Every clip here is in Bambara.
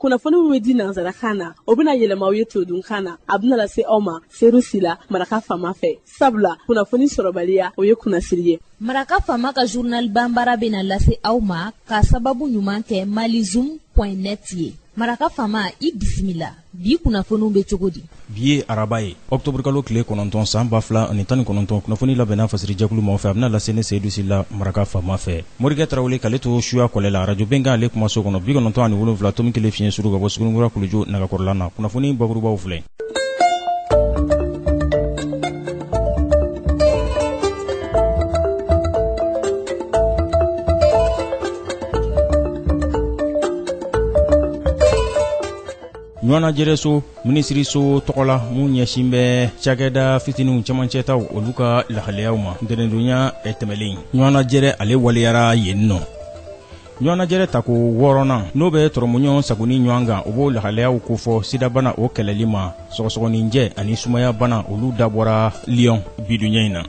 kunnafoni min bɛ di nansarakan na o bɛna yɛlɛma aw ye todunkan na a bɛna lase aw ma seyidu sila maraka faama fɛ sabula kunnafoni sɔrɔbaliya o ye kunnasiri ye maraka faama ka journal bambara bɛna lase aw ma ka sababu ɲuman kɛ malizum point net ye maraka faama i bisimila bi kunnafoniw bɛ cogo di bi ye araba ye ɔkutɔburukalo tile kɔnɔntɔn san ba fila ani tan ni kɔnɔntɔn kunnafoni labɛnna fasiri jɛkulu maa fɛ a bɛna lase ne seyidu sila maraka faama fɛ morikɛ tarawele k'ale to suya kɔlɛ la arajo bɛnkan ale kumaso kɔnɔ bi kɔnɔntɔn ani wolonwula tomi kelen fiɲɛ suru ka bɔ suguninkura kuluju nagakɔrɔla na kunnafoni bakurubaw filɛ ɲɔgɔnnajɛrɛso minisiriso tɔgɔ la min ɲɛsin bɛ cakɛda fitiniw camancɛtaw olu ka lahalayaw ma ntɛnɛndonya tɛmɛlen ɲɔgɔnnajɛrɛ ale waleyara yen nɔ ɲɔgɔnnajɛrɛ tako wɔɔrɔnan n'o bɛ tɔrɔmuɲɔgɔn sagoni ɲɔgɔn kan o b'o lahalayaw kofɔ sidabana o kɛlɛli ma sɔgɔsɔgɔninjɛ ani sumayabana olu dabɔra Lyon bi donya in na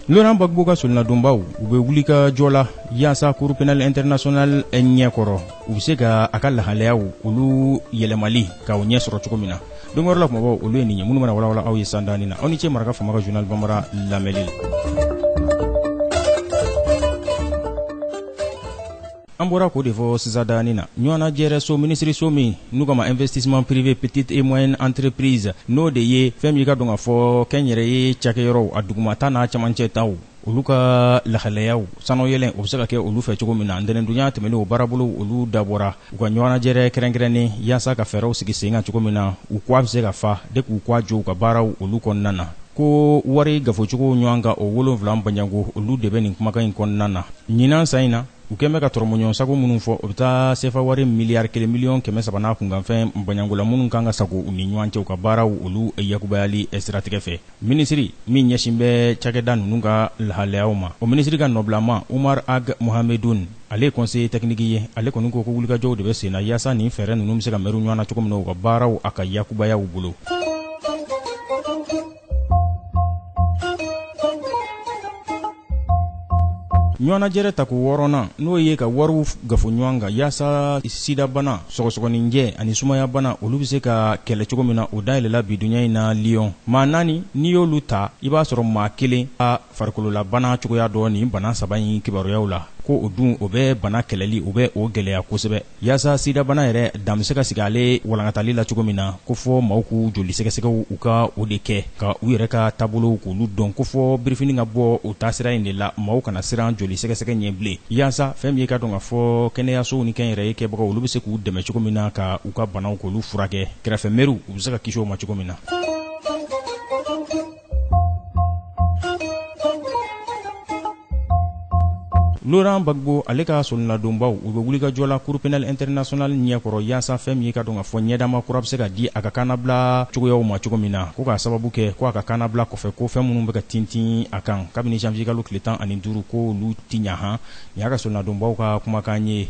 Laurent Gbagbo ka solonadonbaaw u bɛ wulikajɔ la yaasa Cour pénale internationale ɲɛkɔrɔ. u bɛ se ka a ka lahalayaw olu yɛlɛmali k'o ɲɛ sɔrɔ cogo min na don yɛrɛ la kumabaw olu ye nin ye minnu bɛna walawala aw ye sisan daani na aw ni ce maraka faama ka journal bambara lamɛnni la an bɔra k'o de fɔ sisan daani na ɲɔgɔnna jɛrɛ so minisiriso min n'u k'a ma investissement privé petite et moyenne entreprise n'o de ye fɛn min i k'a dɔn k'a fɔ kɛnyɛrɛye cakɛyɔrɔw a dugumata n'a camancɛ taw olu ka lahalayaw sannayɛlɛn o bɛ se ka kɛ olu fɛ cogo min na ntɛnɛndonya tɛmɛnen o baarabolo olu dabɔra u ka ɲɔgɔnnajɛrɛ kɛrɛnkɛrɛnnen yaasa ka fɛɛrɛw sigi sen kan cogo min na u k'a bɛ se ka fa de k'u k'a jɔ u ka baaraw olu kɔnɔna na ko wari kafocogow ɲɔgɔn kan o wolonwula banjango olu de bɛ nin kumakan in kɔnɔna na ɲinan san in na u kɛlen bɛ ka tɔrɔmɔɲɔgɔnsago minnu fɔ o bɛ taa sefa wari miliyari kelen miliyɔn kɛmɛ saba n'a kunkanfɛn banjangola minnu kan ka sago u ni ɲɔgɔn cɛ u ka baaraw olu yakubayali siratigɛ fɛ Minisiri min ɲɛsin bɛ cakɛda ninnu ka lahalayaw ma, o minisiri ka nɔbilama Umar Ag Mohamedun, ale ye conseiller technique ye, ale kɔni ko ko wulikajɔw de bɛ sen na yaasa nin fɛɛrɛ ninnu bɛ se ka mɛru ɲɔgɔn na cogo min na, u ka baaraw a ka yakubaya u bolo. ɲɔgɔnnajɛrɛ tako wɔɔrɔnan n'o ye ka wariw kafo ɲɔgɔn kan yaasa sidabana sɔgɔsɔgɔninjɛ ani sumayabana olu bɛ se ka kɛlɛ cogo min na o dayɛlɛla bi donya in na lyon maa naani n'i y'olu ta i b'a sɔrɔ maa kelen ka farikololabana cogoya dɔ nin bana saba in kibaruyaw la ko o dun o bɛ bana kɛlɛli o bɛ o gɛlɛya kosɛbɛ Yaasa sidabana yɛrɛ dan bɛ se ka sigi ale walankatali la cogo min na ko fɔ maaw k'u joli sɛgɛsɛgɛw u ka o de kɛ ka u yɛrɛ ka taabolow k'olu dɔn ko fɔ birifini ka bɔ o taasira in de la maaw kana siran joli sɛgɛsɛgɛ ɲɛ bilen yaasa fɛn min ye ka dɔn ka fɔ kɛnɛyasow ni kɛnyɛrɛye kɛbagaw olu bɛ se k'u dɛmɛ cogo min na ka u ka banaw k'olu furakɛ kɛrɛfɛ mɛriw u bɛ se ka kisi o ma cogo min na Laurent Gbagbo ale ka solonadonbaaw u bɛ wulikajɔ la Cour pénale internationale ɲɛkɔrɔ yaasa fɛn min ye ka dɔn ka fɔ ɲɛdama kura bɛ se ka di a ka kannabila cogoyaw ma cogo min na, ko k'a sababu kɛ ko a ka kannabila kɔfɛ ko fɛn minnu bɛ ka tintin a kan kabini janvier kalo tile tan ani duuru ko olu tɛ ɲɛ han, nin y'a ka solonadonbaaw ka kumakan ye.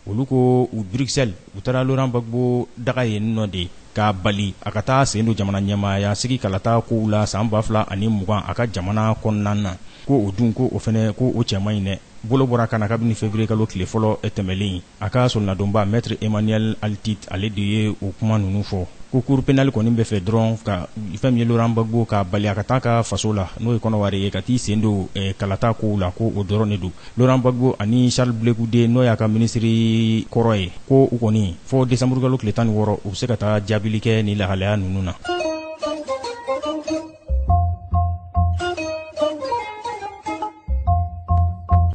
olu ko u bruxelles u taara laurent gbagbo daga yen nɔ de k'a bali a ka taa sen don jamana ɲɛmaaya sigi kalata kow la san 2020 a ka jamana kɔnɔna na ko o dun ko o fɛnɛ ko o cɛ man ɲi dɛ bolo bɔra a kan na kabini février kalo tile fɔlɔ tɛmɛlen a ka solonadonbaa maître emmanuel altit ale de ye o kuma ninnu fɔ ko cour pénale kɔni bɛ fɛ dɔrɔn ka fɛn min ye laurent gbagbo k'a bali a ka taa a ka faso la n'o ye kɔnɔwari ye ka t'i sen don kalata kow la ko o dɔrɔn de don Laurent Gbagbo ani Charles Blé Goudé n'o y'a ka minisiri kɔrɔ ye, ko u kɔni fo décembre kalo tile 16 u bɛ se ka taa jaabili kɛ nin lahalaya ninnu na.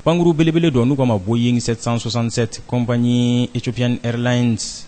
Pankuru belebele dɔ n'u k'a ma Boeing 767, compagnie Ethiopian Airlines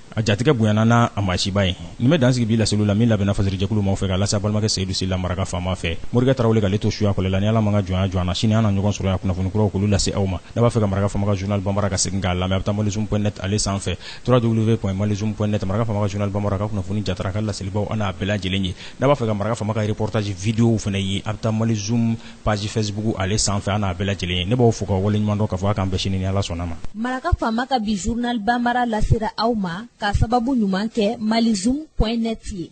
a jatigɛ bonyana n'a a maasiba ye nin bɛ dansigi bi laseliw la min labɛnna fasirijɛkulu maaw fɛ ka lase a balimakɛ seyidu sila maraka faama fɛ morikɛ tarawele k'ale to suya kɔlɛ la ni ala m'a ka jɔnya jɔ an na sini an na ɲɔgɔn sɔrɔ yan kunnafoni kuraw k'olu lase aw ma n'a b'a fɛ ka maraka faama ka journal banbaara ka segin k'a lamɛn a bɛ taa malizoom point net ale sanfɛ www.malizoom point net maraka faama ka journal banbaara ka kunnafoni jatara a ka laselibaw an n'a bɛɛ lajɛlen ye n'a b'a fɛ ka maraka faama ka reportage vidéo fana ye a bɛ taa malizoom page Facebook ale sanfɛ an n'a bɛɛ lajɛlen ye ne b'aw fo k'aw waleɲumandɔn k'a fɔ a k'an bɛn sini ni Ala sɔnn'a ma. Maraka faama ka bi journal banbaara lasera aw ma k'a sababu ɲuman kɛ malizoom point net ye.